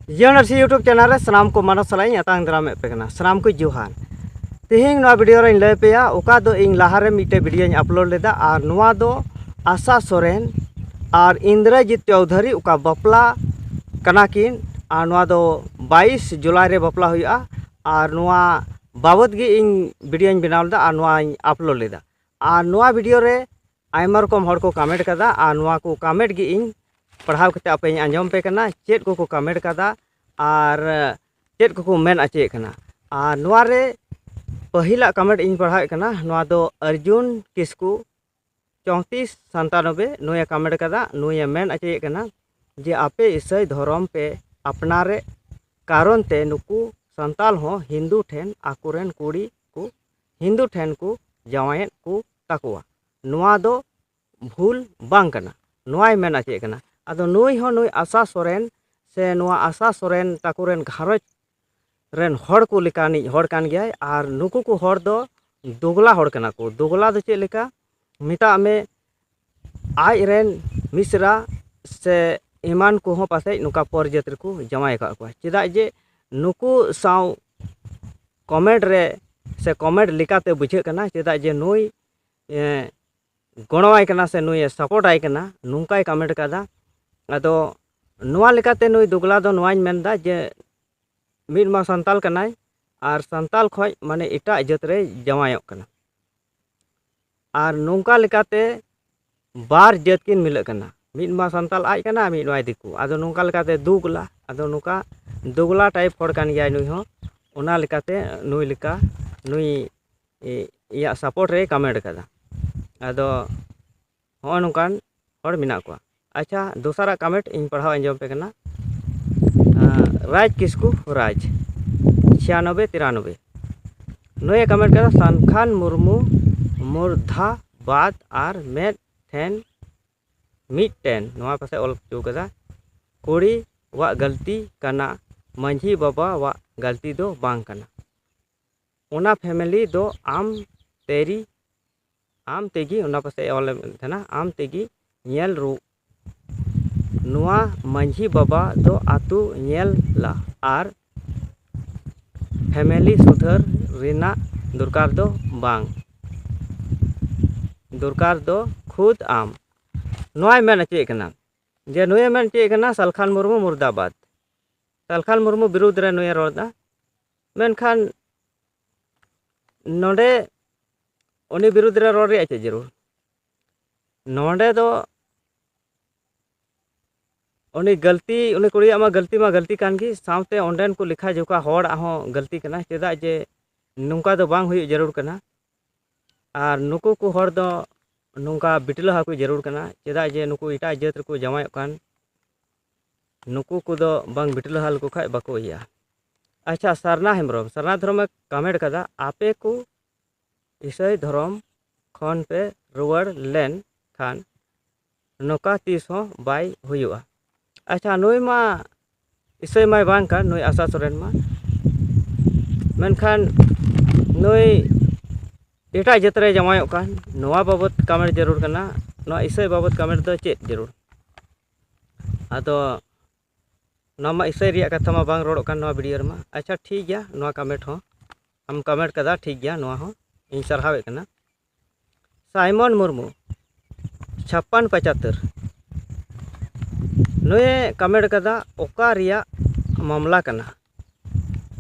ᱡᱤᱭᱚᱱ ᱥᱤ YouTube channel ᱨᱮ ᱥᱟᱱᱟᱢ ᱠᱚ ᱢᱟᱱᱚᱥ ᱥᱟᱞᱟᱜ ᱤᱧ ᱟᱛᱟᱝ ᱫᱟᱨᱟᱢᱮᱫ ᱯᱮ ᱠᱟᱱᱟ ᱥᱟᱱᱟᱢ ᱠᱚ ᱡᱚᱦᱟᱨ ᱛᱮᱦᱮᱧ ᱱᱚᱣᱟ ᱵᱷᱤᱰᱤᱭᱳ ᱨᱮᱧ ᱞᱟᱹᱭ ᱯᱮᱭᱟ ᱚᱠᱟ ᱫᱚ ᱤᱧ ᱞᱟᱦᱟᱨᱮ ᱢᱤᱫᱴᱮᱡ ᱵᱷᱤᱰᱤᱭᱳᱧ ᱟᱯᱞᱳᱰ ᱞᱮᱫᱟ ᱟᱨ ᱱᱚᱣᱟ ᱫᱚ ᱟᱥᱟ ᱥᱚᱨᱮᱱ ᱟᱨ ᱤᱱᱫᱨᱚᱡᱤᱛ ᱪᱚᱣᱫᱷᱟᱨᱤ ᱚᱠᱟ ᱵᱟᱯᱞᱟ ᱠᱟᱱᱟ ᱠᱤᱱ ᱟᱨ ᱱᱚᱣᱟ ᱫᱚ ᱵᱟᱭᱤᱥ ᱡᱩᱞᱟᱭ ᱨᱮ ᱵᱟᱯᱞᱟ ᱦᱩᱭᱩᱜᱼᱟ ᱟᱨ ᱱᱚᱣᱟ ᱵᱟᱵᱚᱫ ᱜᱮ ᱤᱧ ᱵᱷᱤᱰᱤᱭᱳᱧ ᱵᱮᱱᱟᱣ ᱞᱮᱫᱟ ᱟᱨ ᱱᱚᱣᱟᱧ ᱟᱯᱞᱳᱰ ᱞᱮᱫᱟ ᱟᱨ ᱱᱚᱣᱟ ᱵᱷᱤᱰᱤᱭᱳ ᱨᱮ ᱟᱭᱢᱟ ᱨᱚᱠᱚᱢ ᱦᱚᱲ ᱠᱚ ᱠᱟᱢᱮᱱᱴ ᱠᱟᱫᱟ ᱟᱨ ᱱᱚᱣᱟ ᱠᱚ ᱠᱟᱢᱮᱱᱴ ᱜᱮ ᱤᱧ ᱯᱟᱲᱦᱟᱣ ᱠᱟᱛᱮ ᱟᱯᱮᱧ ᱟᱸᱡᱚᱢ ᱯᱮ ᱠᱟᱱᱟ ᱪᱮᱫ ᱠᱚᱠᱚ ᱠᱟᱢᱮᱱᱴ ᱠᱟᱫᱟ ᱟᱨ ᱪᱮᱫ ᱠᱚᱠᱚ ᱢᱮᱱ ᱚᱪᱚᱭᱮᱫ ᱠᱟᱱᱟ ᱟᱨ ᱱᱚᱣᱟ ᱨᱮ ᱯᱟᱹᱦᱤᱞᱟᱜ ᱠᱟᱢᱮᱱᱴ ᱤᱧ ᱯᱟᱲᱦᱟᱣᱮᱫ ᱠᱟᱱᱟ ᱱᱚᱣᱟ ᱫᱚ ᱚᱨᱡᱩᱱ ᱠᱤᱥᱠᱩ ᱪᱚᱣᱛᱤᱥ ᱥᱟᱱᱛᱟᱱᱚᱵᱮ ᱱᱩᱭᱮ ᱠᱟᱢᱮᱱᱴ ᱠᱟᱫᱟ ᱱᱩᱭᱮ ᱢᱮᱱ ᱚᱪᱚᱭᱮᱫ ᱠᱟᱱᱟ ᱡᱮ ᱟᱯᱮ ᱤᱥᱟᱹᱭ ᱫᱷᱚᱨᱚᱢ ᱯᱮ ᱟᱯᱱᱟᱨᱮ ᱠᱟᱨᱚᱱ ᱛᱮ ᱱᱩᱠᱩ ᱥᱟᱱᱛᱟᱞ ᱦᱚᱸ ᱦᱤᱱᱫᱩ ᱴᱷᱮᱱ ᱟᱠᱚᱨᱮᱱ ᱠᱩᱲᱤ ᱠᱚ ᱦᱤᱱᱫᱩ ᱴᱷᱮᱱ ᱠᱚ ᱡᱟᱶᱟᱭᱮᱫ ᱠᱚ ᱛᱟᱠᱚᱣᱟ ᱱᱚᱣᱟ ᱫᱚ ᱵᱷᱩᱞ ᱵᱟᱝ ᱠᱟᱱᱟ ᱱᱚᱣᱟᱭ ᱢᱮᱱ ᱚᱪᱚᱭᱮᱫ ᱠᱟᱱᱟ ᱟᱫᱚ ᱱᱩᱭ ᱦᱚᱸ ᱱᱩᱭ ᱟᱥᱟ ᱥᱚᱨᱮᱱ ᱥᱮ ᱱᱚᱣᱟ ᱟᱥᱟ ᱥᱚᱨᱮᱱ ᱛᱟᱠᱚ ᱨᱮᱱ ᱜᱷᱟᱨᱚᱸᱡᱽ ᱨᱮᱱ ᱦᱚᱲ ᱠᱚ ᱞᱮᱠᱟᱱᱤᱡ ᱦᱚᱲ ᱠᱟᱱ ᱜᱮᱭᱟᱭ ᱟᱨ ᱱᱩᱠᱩ ᱠᱚ ᱦᱚᱲ ᱫᱚ ᱫᱳᱜᱽᱞᱟ ᱦᱚᱲ ᱠᱟᱱᱟ ᱠᱚ ᱫᱳᱜᱽᱞᱟ ᱫᱚ ᱪᱮᱫ ᱞᱮᱠᱟ ᱢᱮᱛᱟᱜ ᱢᱮ ᱟᱡ ᱨᱮᱱ ᱢᱤᱥᱨᱟ ᱥᱮ ᱮᱢᱟᱱ ᱠᱚᱦᱚᱸ ᱯᱟᱥᱮᱡ ᱱᱚᱝᱠᱟ ᱯᱚᱨ ᱡᱟᱹᱛ ᱨᱮᱠᱚ ᱡᱟᱶᱟᱭ ᱟᱠᱟᱫ ᱠᱚᱣᱟ ᱪᱮᱫᱟᱜ ᱡᱮ ᱱᱩᱠᱩ ᱥᱟᱶ ᱠᱚᱢᱮᱱᱴ ᱨᱮ ᱥᱮ ᱠᱚᱢᱮᱱᱴ ᱞᱮᱠᱟᱛᱮ ᱵᱩᱡᱷᱟᱹᱜ ᱠᱟᱱᱟ ᱪᱮᱫᱟᱜ ᱡᱮ ᱱᱩᱭ ᱜᱚᱲᱚᱣᱟᱭ ᱠᱟᱱᱟ ᱥᱮ ᱱᱩᱭᱮ ᱥᱟᱯᱳᱨᱴᱟᱭ ᱠᱟᱱᱟ ᱱᱚᱝᱠᱟᱭ ᱠᱚᱢᱮᱱᱴ ᱠᱟᱫᱟ ᱟᱫᱚ ᱱᱚᱣᱟ ᱞᱮᱠᱟᱛᱮ ᱱᱩᱭ ᱫᱩᱜᱽᱞᱟ ᱫᱚ ᱱᱚᱣᱟᱧ ᱢᱮᱱᱫᱟ ᱡᱮ ᱢᱤᱫ ᱢᱟ ᱥᱟᱱᱛᱟᱞ ᱠᱟᱱᱟᱭ ᱟᱨ ᱥᱟᱱᱛᱟᱞ ᱠᱷᱚᱱ ᱢᱟᱱᱮ ᱮᱴᱟᱜ ᱡᱟᱹᱛ ᱨᱮᱭ ᱡᱟᱶᱟᱭᱚᱜ ᱠᱟᱱᱟ ᱟᱨ ᱱᱚᱝᱠᱟ ᱞᱮᱠᱟᱛᱮ ᱵᱟᱨ ᱡᱟᱹᱛ ᱠᱤᱱ ᱢᱤᱞᱟᱹᱜ ᱠᱟᱱᱟ ᱢᱤᱫ ᱢᱟ ᱥᱟᱱᱛᱟᱲ ᱟᱡ ᱠᱟᱱᱟᱭ ᱢᱤᱫ ᱢᱟᱭ ᱫᱤᱠᱩ ᱟᱫᱚ ᱱᱚᱝᱠᱟ ᱞᱮᱠᱟᱛᱮ ᱫᱩᱜᱽᱞᱟ ᱟᱫᱚ ᱱᱚᱝᱠᱟ ᱫᱩᱜᱽᱞᱟ ᱴᱟᱭᱤᱯ ᱦᱚᱲ ᱠᱟᱱ ᱜᱮᱭᱟᱭ ᱱᱩᱭ ᱦᱚᱸ ᱚᱱᱟ ᱞᱮᱠᱟᱛᱮ ᱱᱩᱭ ᱞᱮᱠᱟ ᱱᱩᱭ ᱤᱭᱟᱹ ᱥᱟᱯᱳᱨᱴ ᱨᱮᱭ ᱠᱚᱢᱮᱱᱴ ᱠᱟᱫᱟ ᱟᱫᱚ ᱦᱚᱸᱜᱼᱚ ᱱᱚᱝᱠᱟᱱ ᱦᱚᱲ ᱢᱮᱱᱟᱜ ᱠᱚᱣᱟ ᱟᱪᱪᱷᱟ ᱫᱚᱥᱟᱨᱟᱜ ᱠᱟᱢᱮᱱᱴ ᱤᱧ ᱯᱟᱲᱦᱟᱣ ᱟᱸᱡᱚᱢ ᱟᱯᱮ ᱠᱟᱱᱟ ᱨᱟᱡᱽ ᱠᱤᱥᱠᱩ ᱨᱟᱡᱽ ᱪᱷᱤᱭᱟᱱᱚᱵᱵᱮ ᱛᱤᱨᱟᱱᱚᱵᱵᱮ ᱱᱩᱭᱮ ᱠᱟᱢᱮᱱᱴ ᱠᱟᱫᱟ ᱥᱟᱱᱠᱷᱟᱱ ᱢᱩᱨᱢᱩ ᱢᱩᱨᱫᱷᱟ ᱵᱟᱫ ᱟᱨ ᱢᱮᱫ ᱴᱷᱮᱱ ᱢᱤᱫᱴᱮᱱ ᱱᱚᱣᱟ ᱯᱟᱥᱮᱡ ᱚᱞ ᱦᱚᱪᱚ ᱠᱟᱫᱟ ᱠᱩᱲᱤ ᱣᱟᱜ ᱜᱟᱹᱞᱛᱤ ᱠᱟᱱᱟ ᱢᱟᱺᱡᱷᱤ ᱵᱟᱵᱟᱣᱟᱜ ᱜᱟᱹᱞᱛᱤ ᱫᱚ ᱵᱟᱝ ᱠᱟᱱᱟ ᱚᱱᱟ ᱯᱷᱮᱢᱮᱞᱤ ᱫᱚ ᱟᱢ ᱛᱮᱭᱨᱤ ᱟᱢ ᱛᱮᱜᱮ ᱚᱱᱟ ᱯᱟᱥᱮᱡ ᱮ ᱚᱞᱮᱫ ᱛᱟᱦᱮᱱᱟ ᱟᱢ ᱛᱮᱜᱮ ᱧᱮᱞ ᱨᱩ ᱱᱚᱣᱟ ᱢᱟᱹᱡᱷᱤ ᱵᱟᱵᱟ ᱫᱚ ᱟᱹᱛᱩ ᱧᱮᱞ ᱞᱟ ᱟᱨ ᱯᱷᱮᱢᱮᱞᱤ ᱥᱩᱫᱷᱟᱹᱨ ᱨᱮᱱᱟᱜ ᱫᱚᱨᱠᱟᱨ ᱫᱚ ᱵᱟᱝ ᱫᱚᱨᱠᱟᱨ ᱫᱚ ᱠᱷᱩᱫᱽ ᱟᱢ ᱱᱚᱣᱟᱭ ᱢᱮᱱ ᱦᱚᱪᱚᱭᱮᱫ ᱠᱟᱱᱟ ᱡᱮ ᱱᱩᱭᱮ ᱢᱮᱱ ᱦᱚᱪᱚᱭᱮᱫ ᱠᱟᱱᱟ ᱥᱟᱞᱠᱷᱟᱱ ᱢᱩᱨᱢᱩ ᱢᱩᱨᱫᱟᱵᱟᱫᱽ ᱥᱟᱞᱠᱷᱟᱱ ᱢᱩᱨᱢᱩ ᱵᱤᱨᱩᱫᱽ ᱨᱮ ᱱᱩᱭᱮ ᱨᱚᱲᱫᱟ ᱢᱮᱱᱠᱷᱟᱱ ᱱᱚᱰᱮ ᱩᱱᱤ ᱵᱤᱨᱩᱫᱽ ᱨᱮ ᱨᱚᱲ ᱨᱮᱭᱟᱜ ᱪᱮᱫ ᱡᱟᱹᱨᱩᱲ ᱱᱚᱰᱮ ᱫᱚ ᱩᱱᱤ ᱜᱟᱹᱞᱛᱤ ᱩᱱᱤ ᱠᱩᱲᱤᱭᱟᱜ ᱢᱟ ᱜᱟᱹᱞᱛᱤ ᱢᱟ ᱜᱟᱹᱞᱛᱤ ᱠᱟᱱ ᱜᱮ ᱥᱟᱶᱛᱮ ᱚᱸᱰᱮᱱ ᱠᱚ ᱞᱮᱠᱷᱟ ᱡᱚᱠᱷᱟ ᱦᱚᱲᱟᱜ ᱦᱚᱸ ᱜᱟᱹᱞᱛᱤ ᱠᱟᱱᱟ ᱪᱮᱫᱟᱜ ᱡᱮ ᱱᱚᱝᱠᱟ ᱫᱚ ᱵᱟᱝ ᱦᱩᱭᱩᱜ ᱡᱟᱹᱨᱩᱲ ᱠᱟᱱᱟ ᱟᱨ ᱱᱩᱠᱩ ᱠᱚ ᱦᱚᱲ ᱫᱚ ᱱᱚᱝᱠᱟ ᱵᱤᱴᱞᱟᱹᱦᱟ ᱠᱚ ᱡᱟᱹᱨᱩᱲ ᱠᱟᱱᱟ ᱪᱮᱫᱟᱜ ᱡᱮ ᱱᱩᱠᱩ ᱮᱴᱟᱜ ᱡᱟᱹᱛ ᱨᱮᱠᱚ ᱡᱟᱶᱟᱭᱚᱜ ᱠᱟᱱ ᱱᱩᱠᱩ ᱠᱚᱫᱚ ᱵᱟᱝ ᱵᱷᱤᱰᱤ ᱞᱟᱦᱟ ᱞᱮᱠᱚ ᱠᱷᱟᱡ ᱵᱟᱠᱚ ᱤᱭᱟᱹᱜᱼᱟ ᱟᱪᱪᱷᱟ ᱥᱟᱨᱱᱟ ᱦᱮᱢᱵᱨᱚᱢ ᱥᱟᱨᱱᱟ ᱫᱷᱚᱨᱚᱢᱮ ᱠᱟᱢᱮᱱᱴ ᱠᱟᱫᱟ ᱟᱯᱮ ᱠᱚ ᱤᱥᱟᱹᱭ ᱫᱷᱚᱨᱚᱢ ᱠᱷᱚᱱ ᱯᱮ ᱨᱩᱣᱟᱹᱲ ᱞᱮᱱ ᱠᱷᱟᱱ ᱱᱚᱝᱠᱟ ᱛᱤᱥ ᱦᱚᱸ ᱵᱟᱭ ᱦᱩᱭᱩᱜᱼᱟ ᱟᱪᱪᱷᱟ ᱱᱩᱭ ᱢᱟ ᱤᱥᱟᱹᱭ ᱢᱟᱭ ᱵᱟᱝ ᱠᱟᱱ ᱱᱩᱭ ᱟᱥᱟ ᱥᱚᱨᱮᱱ ᱢᱟ ᱢᱮᱱᱠᱷᱟᱱ ᱱᱩᱭ ᱮᱴᱟᱜ ᱡᱟᱹᱛ ᱨᱮ ᱡᱟᱶᱟᱭᱚᱜ ᱠᱟᱱ ᱱᱚᱣᱟ ᱵᱟᱵᱚᱫ ᱠᱟᱢᱮᱱᱴ ᱡᱟᱹᱨᱩᱲ ᱠᱟᱱᱟ ᱱᱚᱣᱟ ᱤᱥᱟᱹᱭ ᱵᱟᱵᱚᱫ ᱠᱟᱢᱮᱱᱴ ᱫᱚ ᱪᱮᱫ ᱡᱟᱹᱨᱩᱲ ᱟᱫᱚ ᱱᱚᱣᱟ ᱢᱟ ᱤᱥᱟᱹᱭ ᱨᱮᱭᱟᱜ ᱠᱟᱛᱷᱟ ᱢᱟ ᱵᱟᱝ ᱨᱚᱲᱚᱜ ᱠᱟᱱ ᱱᱚᱣᱟ ᱵᱷᱤᱰᱭᱳ ᱨᱮᱢᱟ ᱟᱪᱪᱷᱟ ᱴᱷᱤᱠ ᱜᱮᱭᱟ ᱱᱚᱣᱟ ᱠᱚᱢᱮᱱᱴ ᱦᱚᱸ ᱟᱢ ᱠᱚᱢᱮᱱᱴ ᱠᱟᱫᱟ ᱴᱷᱤᱠ ᱜᱮᱭᱟ ᱱᱚᱣᱟ ᱦᱚᱸ ᱤᱧ ᱥᱟᱨᱦᱟᱣᱮᱫ ᱠᱟᱱᱟ ᱥᱟᱭᱢᱚᱱ ᱢᱩᱨᱢᱩ ᱪᱷᱟᱯᱯᱟᱱ ᱯᱟᱪᱟᱛᱛᱚᱨ ᱱᱩᱭ ᱠᱚᱢᱮᱱᱴ ᱠᱟᱫᱟ ᱚᱠᱟ ᱨᱮᱭᱟᱜ ᱢᱟᱢᱞᱟ ᱠᱟᱱᱟ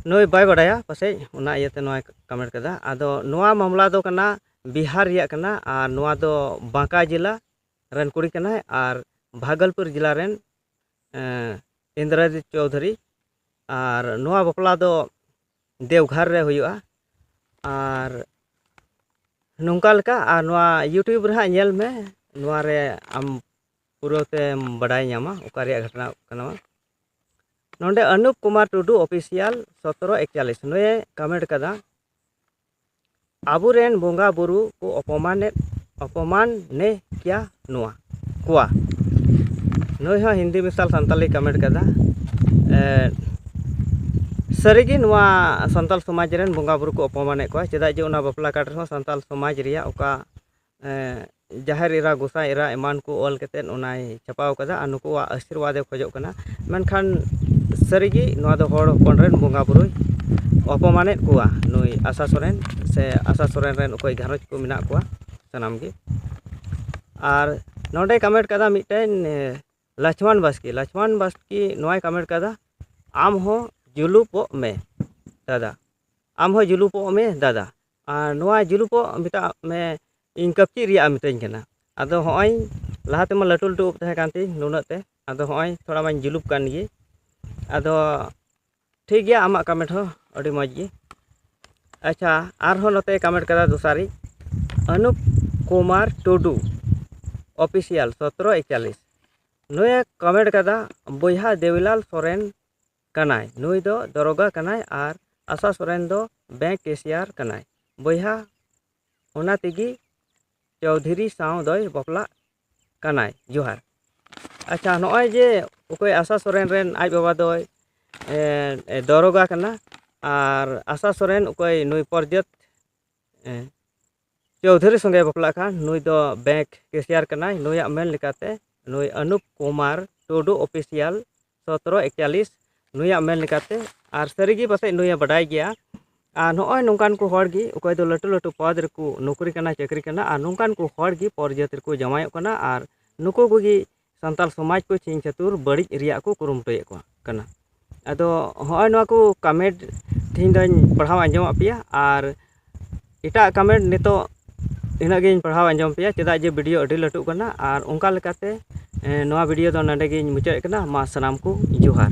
ᱱᱩᱭ ᱵᱟᱭ ᱵᱟᱰᱟᱭᱟ ᱯᱟᱥᱮᱡ ᱚᱱᱟ ᱤᱭᱟᱹᱛᱮ ᱱᱚᱣᱟᱭ ᱠᱚᱢᱮᱱᱴ ᱠᱟᱫᱟ ᱟᱫᱚ ᱱᱚᱣᱟ ᱢᱟᱢᱞᱟ ᱫᱚ ᱠᱟᱱᱟ ᱵᱤᱦᱟᱨ ᱨᱮᱭᱟᱜ ᱠᱟᱱᱟ ᱟᱨ ᱱᱚᱣᱟ ᱫᱚ ᱵᱟᱸᱠᱟ ᱡᱮᱞᱟ ᱨᱮᱱ ᱠᱩᱲᱤ ᱠᱟᱱᱟᱭ ᱟᱨ ᱵᱷᱟᱜᱚᱞᱯᱩᱨ ᱡᱮᱞᱟ ᱨᱮᱱ ᱤᱱᱫᱨᱚᱡᱤᱛ ᱪᱳᱣᱫᱷᱩᱨᱤ ᱟᱨ ᱱᱚᱣᱟ ᱵᱟᱯᱞᱟ ᱫᱚ ᱫᱮᱣᱜᱷᱚᱨ ᱨᱮ ᱦᱩᱭᱩᱜᱼᱟ ᱟᱨ ᱱᱚᱝᱠᱟ ᱞᱮᱠᱟ ᱟᱨ ᱱᱚᱣᱟ ᱤᱭᱩᱴᱩᱵᱽ ᱨᱮ ᱦᱟᱸᱜ ᱧᱮᱞ ᱢᱮ ᱱᱚᱣᱟ ᱨᱮ ᱟᱢ ᱯᱩᱨᱟᱹ ᱛᱮᱢ ᱵᱟᱰᱟᱭ ᱧᱟᱢᱟ ᱚᱠᱟ ᱨᱮᱭᱟᱜ ᱜᱷᱚᱴᱚᱱᱟ ᱠᱟᱱᱟ ᱱᱚᱰᱮ ᱚᱱᱩᱯ ᱠᱩᱢᱟᱨ ᱴᱩᱰᱩ ᱚᱯᱷᱤᱥᱤᱭᱟᱞ ᱥᱚᱛᱨᱚ ᱮᱠᱪᱟᱞᱤᱥ ᱱᱩᱭᱮ ᱠᱟᱢᱮᱱᱴ ᱠᱟᱫᱟ ᱟᱵᱚ ᱨᱮᱱ ᱵᱚᱸᱜᱟ ᱵᱳᱨᱳ ᱠᱚ ᱚᱯᱚᱢᱟᱱᱮᱫ ᱚᱯᱚᱢᱟᱱᱮ ᱠᱮᱭᱟ ᱱᱚᱣᱟ ᱠᱚᱣᱟ ᱱᱩᱭ ᱦᱚᱸ ᱦᱤᱱᱫᱤ ᱢᱮᱥᱟᱞ ᱥᱟᱱᱛᱟᱲᱤ ᱠᱚᱢᱮᱱᱴ ᱠᱟᱫᱟ ᱥᱟᱹᱨᱤᱜᱮ ᱱᱚᱣᱟ ᱥᱟᱱᱛᱟᱲ ᱥᱚᱢᱟᱡᱽ ᱨᱮᱱ ᱵᱚᱸᱜᱟ ᱵᱳᱨᱳ ᱠᱚ ᱚᱯᱚᱢᱟᱱᱮᱫ ᱠᱚᱣᱟ ᱪᱮᱫᱟᱜ ᱡᱮ ᱚᱱᱟ ᱵᱟᱯᱞᱟ ᱠᱟᱨᱰ ᱨᱮᱦᱚᱸ ᱥᱟᱱᱛᱟᱲ ᱥᱚᱢᱟᱡᱽ ᱨᱮᱭᱟᱜ ᱚᱠᱟ ᱡᱟᱦᱮᱨ ᱮᱨᱟ ᱜᱚᱸᱥᱟᱭ ᱮᱨᱟ ᱮᱢᱟᱱ ᱠᱚ ᱚᱞ ᱠᱟᱛᱮᱫ ᱚᱱᱟᱭ ᱪᱷᱟᱯᱟᱣ ᱠᱟᱫᱟ ᱟᱨ ᱱᱩᱠᱩᱣᱟᱜ ᱟᱹᱥᱤᱨᱵᱟᱫᱮ ᱠᱷᱚᱡᱚᱜ ᱠᱟᱱᱟ ᱢᱮᱱᱠᱷᱟᱱ ᱥᱟᱹᱨᱤᱜᱮ ᱱᱚᱣᱟ ᱫᱚ ᱦᱚᱲ ᱦᱚᱯᱚᱱ ᱨᱮᱱ ᱵᱚᱸᱜᱟ ᱵᱳᱨᱳᱭ ᱚᱯᱚᱢᱟᱱᱮᱫ ᱠᱚᱣᱟ ᱱᱩᱭ ᱟᱥᱟ ᱥᱚᱨᱮᱱ ᱥᱮ ᱟᱥᱟ ᱥᱚᱨᱮᱱ ᱨᱮᱱ ᱚᱠᱚᱭ ᱜᱷᱟᱨᱚᱸᱡᱽ ᱠᱚ ᱢᱮᱱᱟᱜ ᱠᱚᱣᱟ ᱥᱟᱱᱟᱢ ᱜᱮ ᱟᱨ ᱱᱚᱰᱮ ᱠᱟᱢᱮᱱᱴ ᱠᱟᱫᱟ ᱢᱤᱫᱴᱮᱱ ᱞᱚᱪᱷᱢᱚᱱ ᱵᱟᱥᱠᱮ ᱞᱚᱪᱷᱢᱚᱱ ᱵᱟᱥᱠᱮ ᱱᱚᱣᱟᱭ ᱠᱟᱢᱮᱱᱴ ᱠᱟᱫᱟ ᱟᱢ ᱦᱚᱸ ᱡᱩᱞᱩᱯᱚᱜ ᱢᱮ ᱫᱟᱫᱟ ᱟᱢ ᱦᱚᱸ ᱡᱩᱞᱩᱯᱚᱜ ᱢᱮ ᱫᱟᱫᱟ ᱟᱨ ᱱᱚᱣᱟ ᱡᱩᱞᱩᱯᱚᱜ ᱢᱮᱛᱟᱜ ᱢᱮ ᱤᱧ ᱠᱟᱹᱯᱪᱤ ᱨᱮᱭᱟᱜ ᱮᱢ ᱢᱤᱛᱟᱹᱧ ᱠᱟᱱᱟ ᱟᱫᱚ ᱦᱚᱸᱜᱼᱚᱭ ᱞᱟᱦᱟ ᱛᱮᱢᱟ ᱞᱟᱹᱴᱩ ᱞᱟᱹᱴᱩ ᱩᱵ ᱛᱟᱦᱮᱸ ᱠᱟᱱ ᱛᱤᱧ ᱱᱩᱱᱟᱹᱜ ᱛᱮ ᱟᱫᱚ ᱦᱚᱸᱜᱼᱚᱭ ᱛᱷᱚᱲᱟ ᱢᱟᱧ ᱡᱩᱞᱩᱯ ᱠᱟᱱ ᱜᱮ ᱟᱫᱚ ᱴᱷᱤᱠ ᱜᱮᱭᱟ ᱟᱢᱟᱜ ᱠᱟᱢᱮᱱᱴ ᱦᱚᱸ ᱟᱹᱰᱤ ᱢᱚᱡᱽ ᱜᱮ ᱟᱪᱪᱷᱟ ᱟᱨᱦᱚᱸ ᱱᱚᱛᱮ ᱠᱟᱢᱮᱱᱴ ᱠᱟᱫᱟ ᱫᱚᱥᱟᱨᱤᱡ ᱟᱹᱱᱩᱯ ᱠᱩᱢᱟᱨ ᱴᱩᱰᱩ ᱚᱯᱷᱤᱥᱤᱭᱟᱞ ᱥᱚᱛᱨᱚ ᱮᱠᱪᱟᱞᱞᱤᱥ ᱱᱩᱭᱮ ᱠᱟᱢᱮᱱᱴ ᱠᱟᱫᱟ ᱵᱚᱭᱦᱟ ᱫᱮᱣᱤᱞᱟᱞ ᱥᱚᱨᱮᱱ ᱠᱟᱱᱟᱭ ᱱᱩᱭ ᱫᱚ ᱫᱚᱨᱚᱜᱟ ᱠᱟᱱᱟᱭ ᱟᱨ ᱟᱥᱟ ᱥᱚᱨᱮᱱ ᱫᱚ ᱵᱮᱝᱠ ᱠᱮᱥᱤᱭᱟᱨ ᱠᱟᱱᱟᱭ ᱵᱚᱭᱦᱟ ᱚᱱᱟ ᱛᱮᱜᱮ ᱪᱳᱣᱫᱷᱤᱨᱤ ᱥᱟᱶ ᱫᱚᱭ ᱵᱟᱯᱞᱟᱜ ᱠᱟᱱᱟᱭ ᱡᱚᱦᱟᱨ ᱟᱪᱪᱷᱟ ᱱᱚᱜᱼᱚᱭ ᱡᱮ ᱚᱠᱚᱭ ᱟᱥᱟ ᱥᱚᱨᱮᱱ ᱨᱮᱱ ᱟᱡ ᱵᱟᱵᱟ ᱫᱚᱭ ᱫᱟᱨᱚᱜᱟ ᱠᱟᱱᱟ ᱟᱨ ᱟᱥᱟ ᱥᱚᱨᱮᱱ ᱚᱠᱚᱭ ᱱᱩᱭ ᱯᱨᱚᱫᱭᱩᱛ ᱪᱳᱣᱫᱷᱩᱨᱤ ᱥᱚᱸᱜᱮ ᱵᱟᱯᱞᱟᱜ ᱠᱷᱟᱱ ᱱᱩᱭ ᱫᱚ ᱵᱮᱝᱠ ᱠᱮᱥᱤᱭᱟᱨ ᱠᱟᱱᱟᱭ ᱱᱩᱭᱟᱜ ᱢᱮᱱ ᱞᱮᱠᱟᱛᱮ ᱱᱩᱭ ᱟᱱᱩᱯ ᱠᱩᱢᱟᱨ ᱴᱩᱰᱩ ᱚᱯᱷᱤᱥᱤᱭᱟᱞ ᱥᱚᱛᱨᱚ ᱮᱠᱪᱟᱞᱤᱥ ᱱᱩᱭᱟᱜ ᱢᱮᱱ ᱞᱮᱠᱟᱛᱮ ᱟᱨ ᱥᱟᱹᱨᱤᱜᱮ ᱯᱟᱥᱮᱡ ᱱᱩᱭᱮ ᱵᱟᱰᱟᱭ ᱜᱮᱭᱟ ᱟᱨ ᱱᱚᱜᱼᱚᱭ ᱱᱚᱝᱠᱟᱱ ᱠᱚ ᱦᱚᱲ ᱜᱮ ᱚᱠᱚᱭ ᱫᱚ ᱞᱟᱹᱴᱩ ᱞᱟᱹᱴᱩ ᱯᱚᱫᱽ ᱨᱮᱠᱚ ᱱᱚᱠᱨᱤ ᱠᱟᱱᱟ ᱪᱟᱹᱠᱨᱤ ᱠᱟᱱᱟ ᱟᱨ ᱱᱚᱝᱠᱟᱱ ᱠᱚ ᱦᱚᱲ ᱜᱮ ᱯᱚᱨ ᱡᱟᱹᱛ ᱨᱮᱠᱚ ᱡᱟᱶᱟᱭᱚᱜ ᱠᱟᱱᱟ ᱟᱨ ᱱᱩᱠᱩ ᱠᱚᱜᱮ ᱥᱟᱱᱛᱟᱲ ᱥᱚᱢᱟᱡᱽ ᱠᱚ ᱪᱷᱤᱝ ᱪᱷᱟᱹᱛᱩᱨ ᱵᱟᱹᱲᱤᱡ ᱨᱮᱭᱟᱜ ᱠᱚ ᱠᱩᱨᱩᱢᱩᱴᱩᱭᱮᱫ ᱠᱚᱣᱟ ᱠᱟᱱᱟ ᱟᱫᱚ ᱦᱚᱸᱜᱼᱚᱭ ᱱᱚᱣᱟ ᱠᱚ ᱠᱟᱢᱮᱱᱴ ᱛᱮᱦᱮᱧ ᱫᱚᱧ ᱯᱟᱲᱦᱟᱣ ᱟᱸᱡᱚᱢᱟᱫ ᱯᱮᱭᱟ ᱟᱨ ᱮᱴᱟᱜ ᱠᱟᱢᱮᱱᱴ ᱱᱤᱛᱚᱜ ᱤᱱᱟᱹᱜ ᱜᱤᱧ ᱯᱟᱲᱦᱟᱣ ᱟᱸᱡᱚᱢ ᱯᱮᱭᱟ ᱪᱮᱫᱟᱜ ᱡᱮ ᱵᱷᱤᱰᱤᱭᱳ ᱟᱹᱰᱤ ᱞᱟᱹᱴᱩᱜ ᱠᱟᱱᱟ ᱟᱨ ᱚᱱᱠᱟ ᱞᱮᱠᱟᱛᱮ ᱱᱚᱣᱟ ᱵᱷᱤᱰᱤᱭᱳ ᱫᱚ ᱱᱚᱰᱮ ᱜᱤᱧ ᱢᱩᱪᱟᱹᱫ ᱮᱫ ᱠᱟᱱᱟ ᱢᱟ ᱥᱟᱱᱟᱢ ᱠᱚ ᱡᱚᱦᱟᱨ